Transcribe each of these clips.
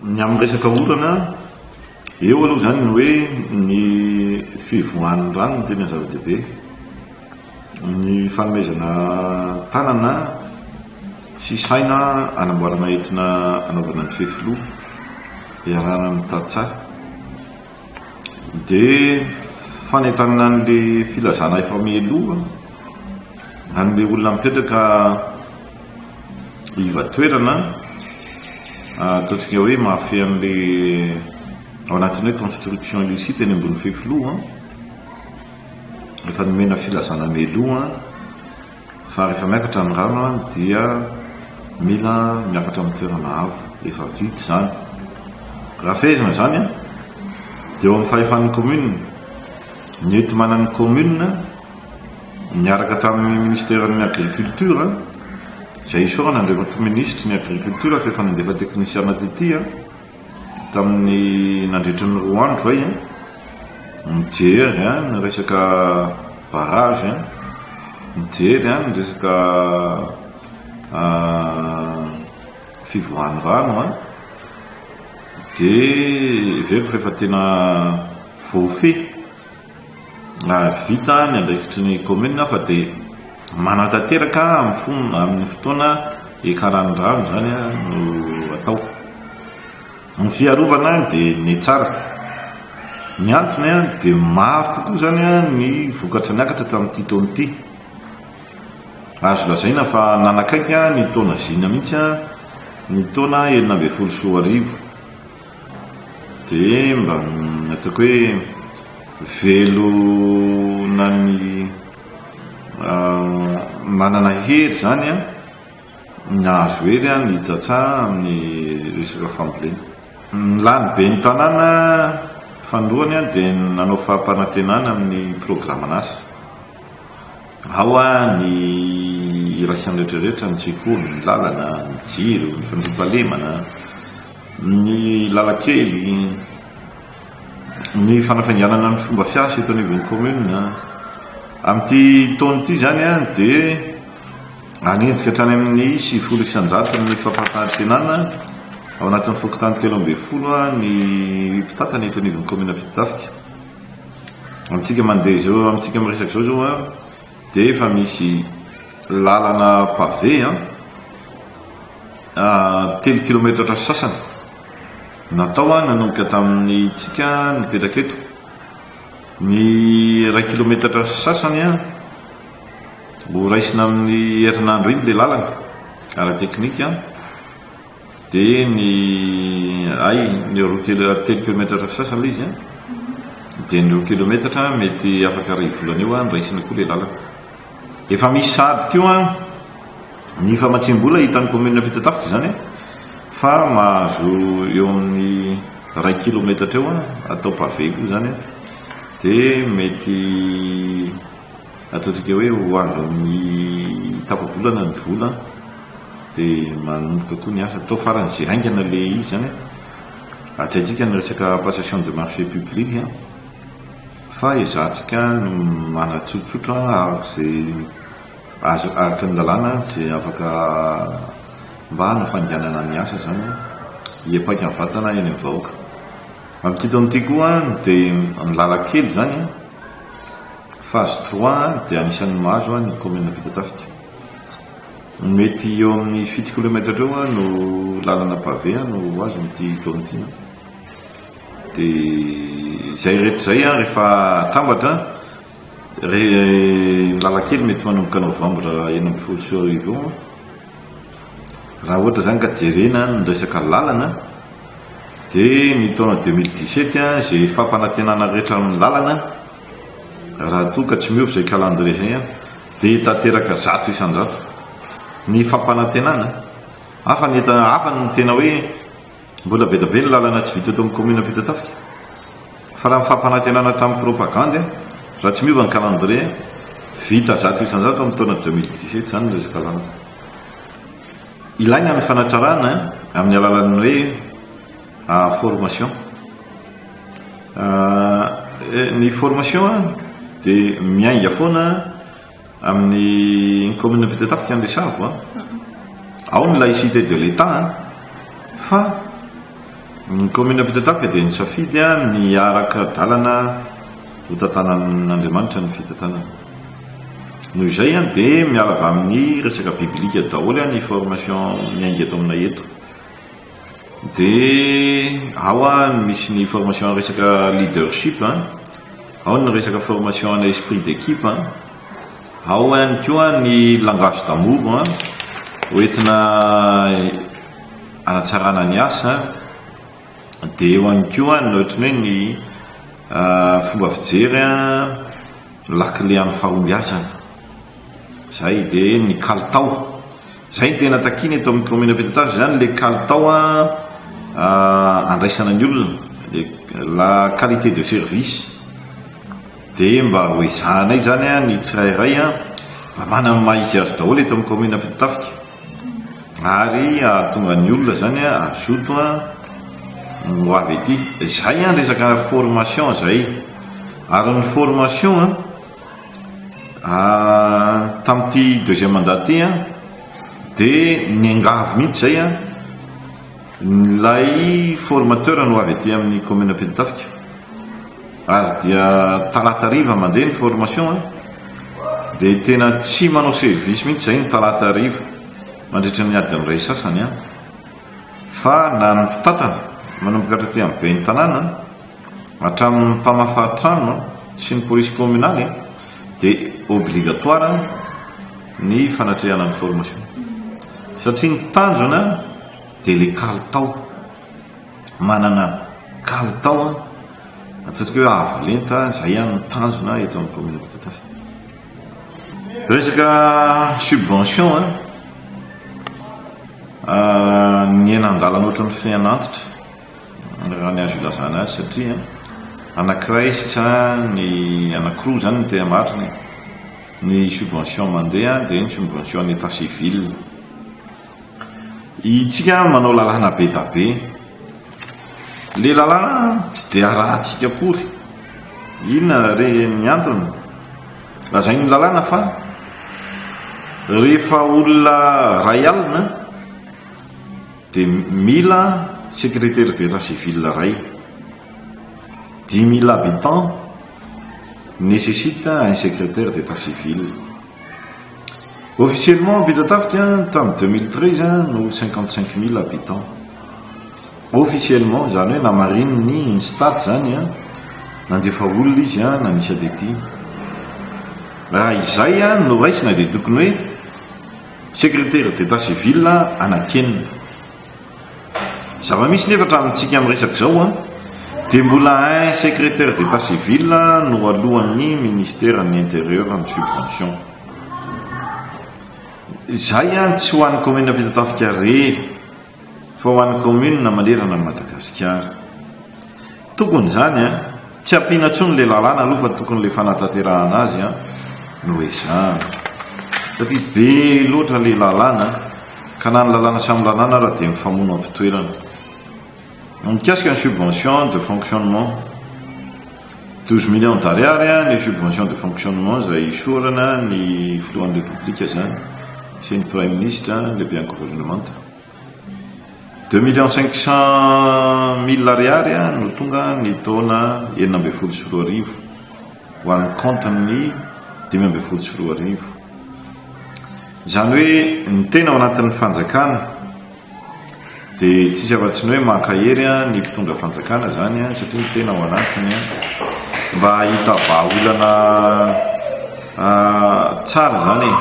Ny amin'ny resaka orana, eo aloha izany ny hoe ny fivoahan'ny rano no tena zava-dehibe. Ny fanomezana tanana sy saina hanamboarana entina hanaovana ny fefiloha iarahana amin'ny tantsaha. Dia fanentanana an'ilay filazana efa mialoha, an'ilay olona mipetraka iva-toerana, ataontsika hoe mahafehy an'ilay ao anatin'ny hoe construction illicite eny ambony fefiloha, efa nomena filazana mialoha. fa rehefa miakatra ny rano dia mila miakatra amin'ny toerana avo efa vita izany. Raha fehezina izany dia eo amin'ny fahefan'ny commune ny enti-manan'ny commune niaraka tamin'ny ministeran'ny agriculture izay isaorana Andriamatoa Minisitry ny agriculture f'efa nandefa teknisiana tetia. Tamin'ny nandritra ny roa andro izay, nijery ny resaka barrage, nijery ny resaka fivoahan'ny rano dia heveriko fa efa tena voafehy. vita ny andraikitry ny kaominina fa dia manatanteraka amin'ny fotoana hiakaran'ny rano izany no atao. Ny fiarovana dia ny tsara. Ny antony dia maro kokoa izany ny vokatra niakatra tamin'ity taona ity. Azo lazaina fa nanakaiky ny taona zina mihitsy ny taona enina ambin'ny folo sy roa arivo. dia mba ataoko hoe velona ny manana hery zany an ny azo hery an ny tantsa amin'ny resaka fambolena ny lany be ny tanàna fandroany an dia nanao fahampanantenana amin'ny programan'asa ao an ny iraisany rehetra rehetra ny sekoly ny lalana ny jiro ny fandriampahalemana Ny lalan-kely, ny fanafainganana ny fomba fiasa eto anivon'ny commune. Amin'ity taona ity izany dia hanenjika hatrany amin'ny sivifolo isanjato ny fampahafahantsenana ao anatin'ny fokontany telo ambin'ny folo ny mpitantana eto anivon'ny commune Ampitatafika. Amintsika mandeha izao, amintsika miresaka izao izao an, dia efa misy lalana pavé an. Telo kilometatra sy sasany natao nanomboka tamin'ny tsika nipetraka eto. Ny iray kilometatra sy sasany ho raisina amin'ny herinandro iny ilay lalana ara-teknika dia ny ay ny roa kilo telo kilometatra sy sasany ilay izy dia ny roa kilometatra mety afaka iray volana eo ny raisina koa ilay lalana. Efa misy sahady koa ny famatsiam-bola hitan'ny kaominina Ampitatafika izany fa mahazo eo amin'ny iray kilometatra eo atao pavé koa izany dia mety ataontsika hoe ho avy amin'ny tapa-bolana ny vola dia manomboka koa ny asa atao farany izay haingana ilay izy izany hatraintsika ny resaka passation de marché public Fa izatsika no manatsotsotra araka izay azo araka ny lalàna dia afaka mba hanafainganana ny asa izany hiapaika ny vatana eny amin'ny vahoaka. Amin'ity taona ity koa dia ny lalan-kely izany, phase trois, dia anisan'ny mahazo ny kaominina vita tafika. Mety eo amin'ny fito kilomètre eo no lalana pavé no ho azo amin'ity taona ity. Dia izay rehetra izay an rehefa atambatra an, ny lalan-kely mety manomboka novambra enina ambin'ny folo sy roa arivo eo an, raha ohatra izany ka jerena ny resaka lalana dia ny taona deux mille dix sept an, izay fampanantenana rehetra amin'ny lalana an, raha toa ka tsy miova izay calendrier izay an, dia tanteraka zato isan-jato ny fampanantenana, hafa ny tena hoe Mbola be dia be ny lalana tsy vita eto amin'ny kaominina Ampitatafika. Fa raha ny fampanantenana tamin'ny propagandy, raha tsy miova ny calendrier, vita zato isanjato amin'ny taona deux mille dix-sept izany ny resaka lalana. Ilaina ny fanatsarana amin'ny alalan'ny hoe formation. Ny formation dia miainga foana Amin'ny kaominina Ampitatafika no resahako an! Ao ny laïcité de l'Etat an! Fa ny kaominina Ampitatafika dia nisafidy an! Ny hiaraka dalana ho tantanan'Andriamanitra ny fitantanana. Noho izay an! Dia miala avy amin'ny resaka bibilika daholo an! Ny formation miainga eto aminay eto. dia ao misy ny formation resaka leadership, ao ny resaka formation ana esprit d'équipe, ao ihany koa ny langage d'amour hoentina hanatsarana ny asa, dia eo ihany koa ny ohatran'ny hoe ny fomba fijery lakile amin'ny fahombiazana, izay dia ny kalitao. Izay no tena takiana eto amin'ny kaominina Ampitatafika izany, ilay kalitao andraisana ny olona, ilay la qualité de service. Dia mba ho ezahanay izany ny tsirairay mba manana ny maha izy azy daholo eto amin'ny kaominina Ampitatafika. Ary hahatonga ny olona izany hazoto ho avy ety. Izay ny resaka formation izay. Ary ny formation. Ah, tamin'ity deuxième mandat ity an, dia niangavy mihitsy izay an, ilay formateur no avy aty amin'ny commune Ampitatafika. Ary dia talata hariva mandeha ny formation an, dia tena tsy manao service mihitsy izay ny talata hariva mandritra ny adin'ny iray sasany an. Fa na ny mpitantana manomboka hatraty amin'ny ben'ny tanàna, Hatramin'ny mpamafa trano sy ny polisy kaominaly dia obligatoire ny fanatrehana ny formation satria ny tanjona dia ilay kalitao, manana kalitao, ataontsika hoe avo lenta, izay ihany no tanjona eto amin'ny kaominina Ambatotafika. Resaka subvention, ny aina an-dalana ohatran'ny fehin'antitra. raha ny azo ilazana azy satria anankiray sa ny anankiroa izany no tena marina e! ny subvention mandeha dia ny subvention an'ny état civil itsika manao lalàna be da be le lalàna tsy dia arahantsika akory inona re ny antony lazain'ny lalàna fa rehefa olona ray alina Dia mila secretaire d'etat civil ray. Dix mille habitants necessite un secretaire d'etat civil. Officiellement Ampitatafika tamin'ny deux mille treize no cinquante cinq mille habitants. Officiellement izany hoe namarinin'ny INSTAT izany an, nandefa olona izy an, nanisa tetika. Raha izay an no raisina dia tokony hoe. Secrétaire d'état civil anakenina. Zava-misy nefa hatramintsika amin'ny resaka izao an, dia mbola un secrétaire d'état civil no alohan'ny ministeran'ny intérieur ny subvention. Izay an tsy ho an'ny commune Ampitatafika rery fa ho an'ny kaominina manerana an'i Madagasikara. Tokony izany an! Tsy ampiana intsony ilay lalàna aloha fa tokony ilay fanatanterahana azy an no ezahana. Satria be loatra ilay lalàna ka na ny lalàna samy lalàna ara dia mifamono am-pitoerana. Mikasika ny subvention de fonctionnement. Douze millions d'ariary ny subvention de fonctionnement izay hisaorana ny filohan'ny Repoblika izany sy ny Praiminisitra, ny lehiben'ny governemanta. Deux millions cinq cents mille ariary no tonga ny taona enina ambin'ny folo sy roa arivo ho an'ny kaontin'ny dimy ambin'ny folo sy roa arivo. Izany hoe ny tena ao anatin'ny fanjakana. Dia tsisy afa-tsy ny hoe mankahery ny mpitondra fanjakana izany satria ny tena ao anatiny mba hahita vahaolana tsara izany e,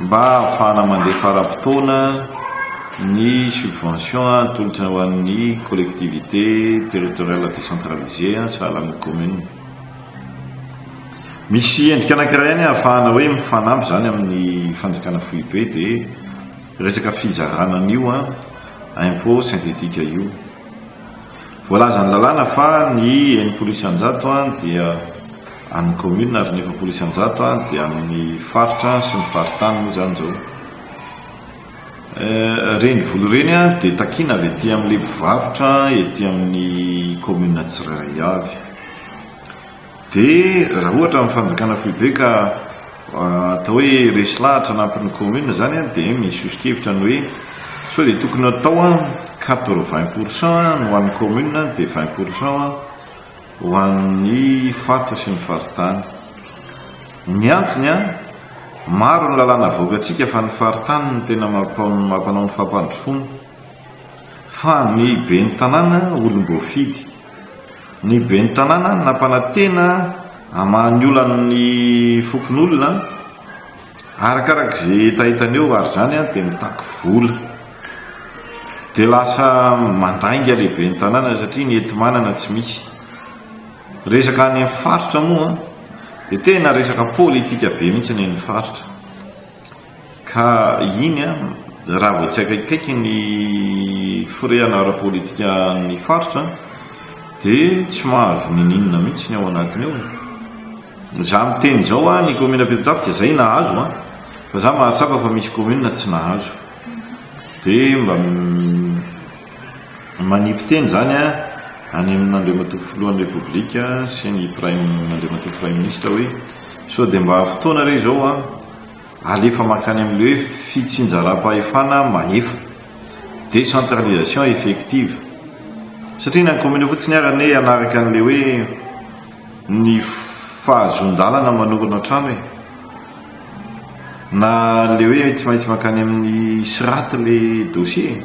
mba hahafahana mandefa ara-potoana ny subvention atolotra ho an'ny collectivité territoriale décentralisée sahala amin'ny commune. Misy endrika anankiray ihany ahafahana hoe mifanampy izany amin'ny fanjakana foibe dia. Resaka fizarana an'io impôt synthétique io. Voalazan'ny lalàna fa ny enimpolo isanjato dia an'ny commune ary ny efapolo isanjato dia an'ny faritra sy ny faritany moa izany izao. Ireny vola ireny dia takiana avy ety amin'ilay mpivarotra ety amin'ny commune tsirairay avy. Dia raha ohatra ny fanjakana foibe ka atao hoe resy lahatra anampin'ny commune izany an, dia misy soso-kevitra ny hoe sao dia tokony hatao an quatre vingt pour cent an ny ho an'ny commune an dia vingt pour cent an ho an'ny faritra sy ny faritany. Ny antony an, maro ny lalàna avoakantsika fa ny faritany no tena mampanao ny fampandrosoana. Fa ny ben'ny tanàna olom-boafidy. Ny ben'ny tanàna nampanantena hamaha ny olan'ny fokonolona arakaraka izay hetaheta eo ary izany dia mitaky vola. Dia lasa mandainga ilay ben'ny tanàna satria ny enti-manana tsy misy. Resaka any amin'ny faritra moa dia tena resaka politika be mihitsy ny faritra. Ka iny raha vao tsy akaikikaiky ny firehana ara-politika ny faritra dia tsy mahazo ninininona mihitsy ny ao anatiny ao. Za miteny izao a, ny commune Ampitatafika zay nahazo a, fa za mahatsapa fa misy commune tsy nahazo. Dia mba manipy teny zany a any amin' Andriamatoa Filohan'ny Repoblika sy ny Praim, Andriamatoa Praiminisitra hoe sao dia mba fotoana re izao a, alefa mankany amin'ilay hoe fitsinjaram-pahefana mahefa, décentralisation effective, satria na ny kaominina fotsiny ary anie hanaraka an'ilay hoe ny fahazoan-dalana manorina trano e! na ilay hoe tsy maintsy mankany amin'ny SRAT ilay dossier e!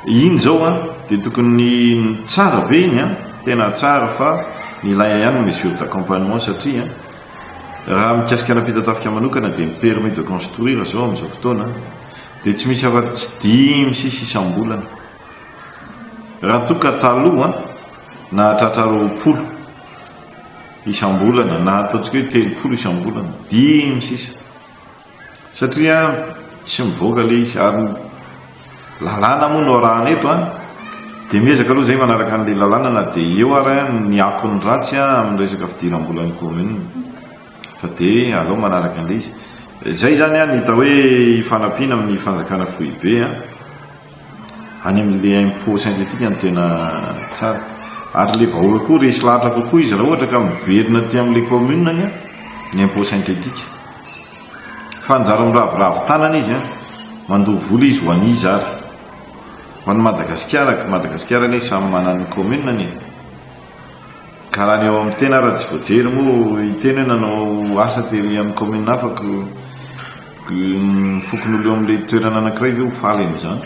Iny zao an de tokony tsara be iny an, tena tsara fa ny ilaina ihany ny mesure d'accompagnement satria an raha mikasika an'Ampitatafika manokana dia ny permis de construire zao amin'izao fotoana dia tsy misy afaky tsy dimy sisa isam-bolana raha toa ka taloha an nahatratra roapolo isam-bolana na ataontsika hoe telopolo isam-bolana, dimy sisa. satria tsy mivoaka ilay izy ary ny lalàna moa no arahana eto an, dia miezaka aloha izahay manaraka an'ilay lalàna na dia eo ary ny akony ratsy amin'ny resaka fidiram-bolan'ny commune fa dia aleo manaraka an'ilay izy, izay izany an ny hita hoe hifanampiana amin'ny fanjakana foibe an. Any amin'ilay impôt synthétique no tena tsara. Ary ilay vahoaka koa resy lahatra kokoa izy raha ohatra ka miverina aty amin'ilay commune ny ny impôt synthétique. Fa anjara miraviravy tanana izy an! Mandoa vola izy ho an'iza ary? Ho an'i Madagasikara, Madagasikara anie samy manana ny commune-ny e! Ka raha ny ao amin'ny tena ara tsy voajery moa hiteny hoe nanao asa tery amin'ny commune hafa ko ny fokon'olo eo amin'ilay toerana anankiray ve ho faly amin'izany?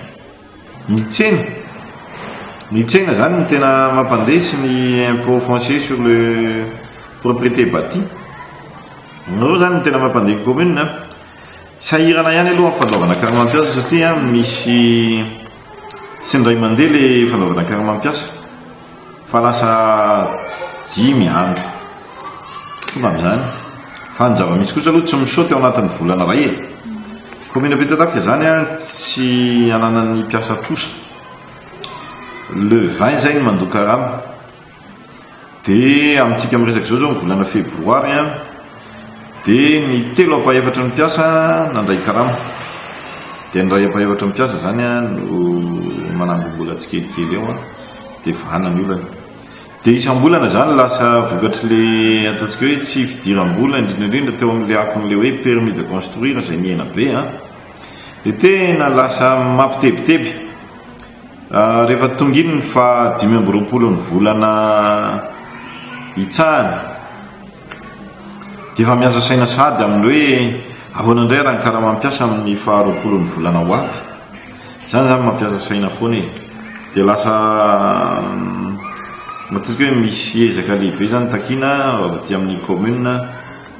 Ny tsena, ny tsena izany no tena mampandresy ny impôt foncier sur le propriété bâtie. Ireo izany no tena mampandeha ny commune an. Sahirana ihany aloha ny fandoavana carnet mpiasa satria misy. Tsy indray mandeha le fanaovana karama mpiasa fa lasa dimy andro tonga amin'izany fa ny zava-misy kosa aloha tsy misaut teo anatin'ny volana iray e commune Ampitatafika izany a tsy ananan'ny mpiasa trosa le 20 izay ny mandoa karama Dia amintsika miresaka izao izao ny volana febroary a, dia ny telo ampahefatry ny mpiasa nandray karama. Dia ny iray ampahefatry ny mpiasa izany a no manangom-bola tsikelikely eo a, dia vahana ny olana. Dia isam-bolana izany lasa vokatr'ilay ataontsika hoe tsy fidiram-bola indrindra indrindra teo amin'ilay akon'ilay hoe permis de construire izay nihena be a, dia tena lasa mampitebiteby. Rehefa tonga iny ny faha dimy amby roapolo ny volana itsahany dia efa miasa saina sahady amin'ny hoe ahoana indray raha ny karamam-piasa amin'ny faha roapolo ny volana ho avy. Izany izany mampiasa saina foana e. Dia lasa matetika hoe misy ezaka lehibe izany takina avy aty amin'ny commune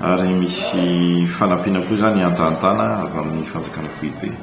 ary misy fanampiana koa izany antahantana avy amin'ny fanjakana foibe.